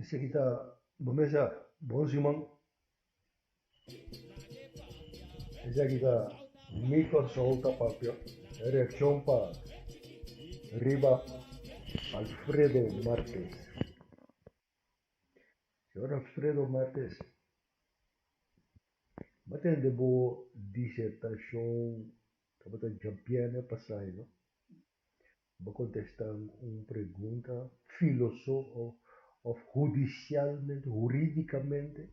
Esaki ta bo mesa bon si man. Esaki ta mi corsou ta papia reaccion pa riba Alfredo Martes. Señor Alfredo Martes m'a tende bo disertacion. Tabata Jean-Pierre n'e pasai no. Bo contestan un pregunta filoso of hudicialmente, huridicamente.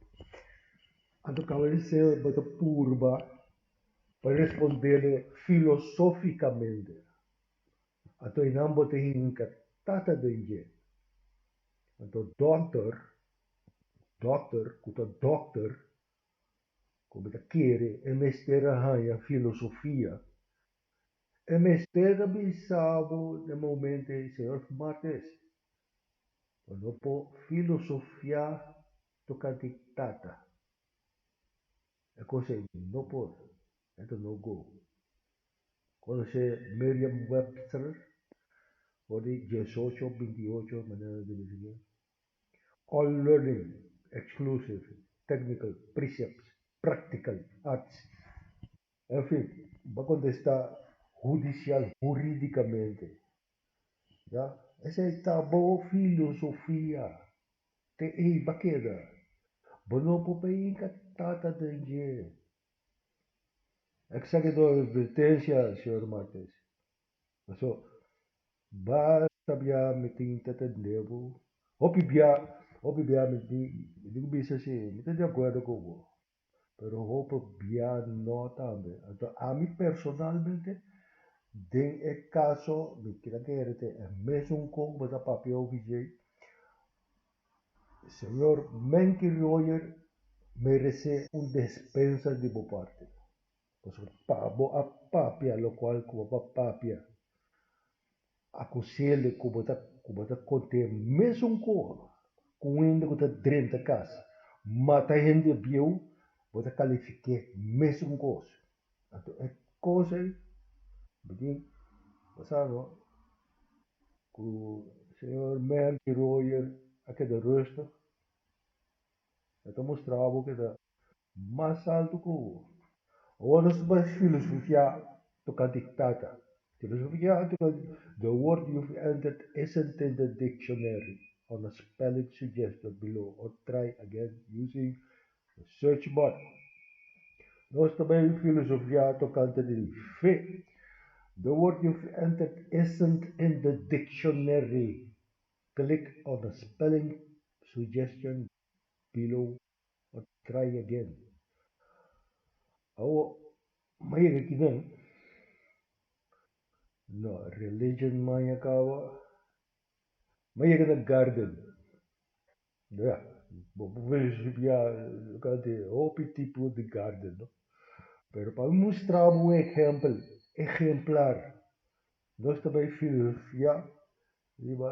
Anto caba di se bo ta purba pa respondele filosoficamente. Anto eynan bo ta hinca tata den dje. Anto doctor, doctor, cu ta doctor. ku mi ta kere e mester a haña filosofia. E mester a bisa bo den momentu ei, Señor Martes, bo no por filosofiá tokante Tata. E kos ei no por, ento no go. Konosé Merriam-Webster for di diesocho, binti ocho manera di bisa ke. All learning, exclusive, technical, precepts, practical, arts. En fin, ba contesta judicial, juridicamente. Ya, esey ta bo filosofia. Te ey ba keda. Bo no por bay inca tata den dje. Exake do advertencia, señor Martes. Paso, ba sabia mi tin ta tende bo. Hopi bia, hopi bia mi di, mi di ku bisa si, mi ta di akuerdo ku bo. Pero hopi bia no tambe. Anto ami personalmente, den e kaso, mi kila kere te e mesun kon ku bo ta papia ku OVJ. Señor Menke Royer merese un despensa di bo parti. Pasobra pa bo a papia lokual ku bo por papia, akusele ku bo ta ku bo ta kont'é mesun ku ku un hende ku ta drenta kas, mata hende ebrieu, bo ta kalifik'é mesun ku oso. Anto e kos ei bini basa no ku señor Merky Royer a keda rustig, e ta mustra bo keda Mas altu ku hopi. Awor nos bai filosofiá tokante tata. Filosofiá tokante de word you have entered e sentente dictionary on the spelling suggested below or try again using the search bar. Nos ta bai filosofiá tokante di fe. De word you have entered isn't in the dictionary click on the spelling suggestion below. pa try again. Awo maya ke kinan no religion maya kawa maya ke na garden ya bo por worshipia luka di hopi tipo di garden no pero pa mi mustra bo un ehempel ehemplar nos ta bay fia riba.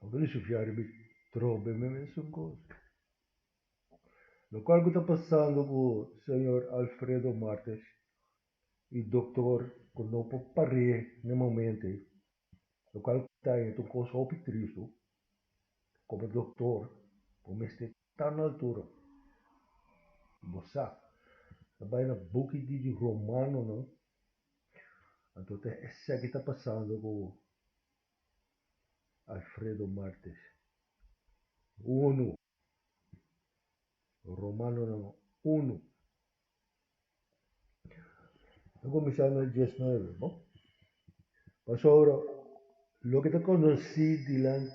Lo cu ta shifia riba e trobe e mesun cos. Locual cu ta pasando cu Señor Alfredo Martes y Doctor cu no por par'e n'e momento ey. Locual ta yendo un cos hopi tristo como Doctor bo mester ta na altura. Bo sa ta bay na buki di di Romanonan anto ta esaki ta pasando cu Alfredo Martes, unu, Romanonan, unu. Ta kuminsá na dies nuebe, bo. Pasobra loke ta konosí di nan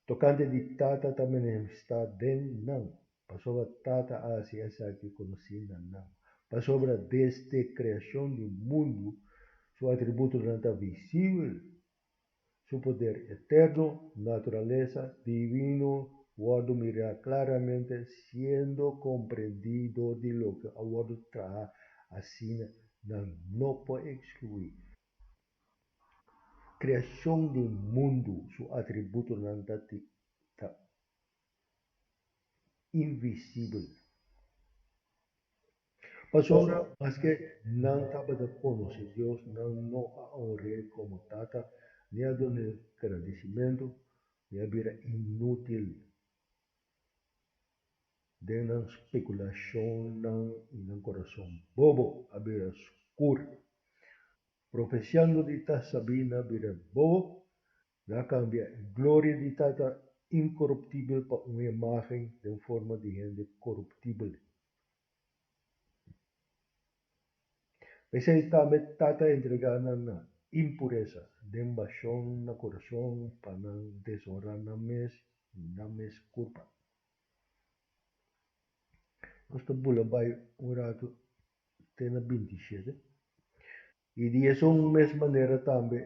tokante di Tata ta manifestá den nan. Pasobra Tata a hasi esaki konosí na nan. Pasobra desde kreashon di mundu Su atributonan ta visibel, Su poder eterno, naturalesa divino, wòrdu mirá klaramente, siendo komprendí dor di loke a wòrdu traha, asina nan no por ekskluí. Kreashon di mundu Su atributonan ta tin, ta invisibel. Pasobra maske nan tabata konosé Dios, nan no a onr'E komo Tata, ni a dun'E gradisimentu, mi a bira inútil den nan spekulashonnan i nan kurason bobo a bira skur. Profesiando di ta sabí nan bira bobo. Nan a kambia e gloria di Tata inkoruptibel pa un imágen den forma di hende koruptibel. P'esei tambe Tata a entregá nan na impuresa den bashon na kurason pa nan deshonrá nan mes i nan mes kurpa. Nos ta bula bai un ratu te na binti i shete, i di esun mes manera tambe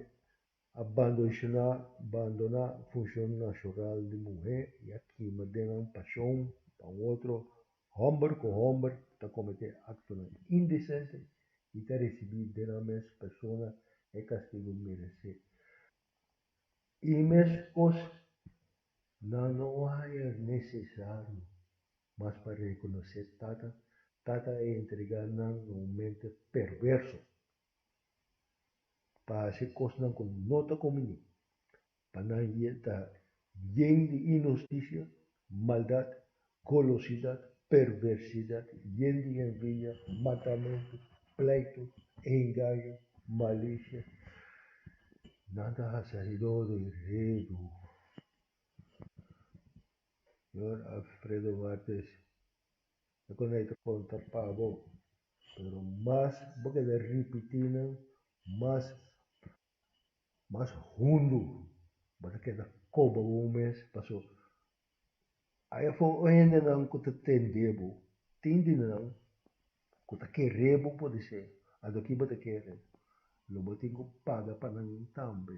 A bandonshoná, bandoná, funshon nashoral di muhé i a kima den nan pashon pa un otro hòmber ku hòmber ta kometé aktonan indesente i ta resibí den nan mes persona e kastigu meresé. E mes kos nan no haña nesesario mas pa rekonosé Tata, Tata a entregá nan na un mente perverso pa hasi kosnan ku no ta kominé, pa nan ye ta yen di inhustisia, maldat, golosidat, perversidat, yen di envidia, matamentu, pleito, engaño, malicia. Nan ta hasi ase do de redu. Señor Alfredo Martes. e konde hay ta konta pa bo, pero mas bo keda ripití nan, mas mas hundu bo ta keda koba bo mes, paso hay afó un hendenan ku ta tende bo, tin di nan ku ta kere bo por di se, adoki bo ta kere, lo bo tin ku paga pa nan tambe.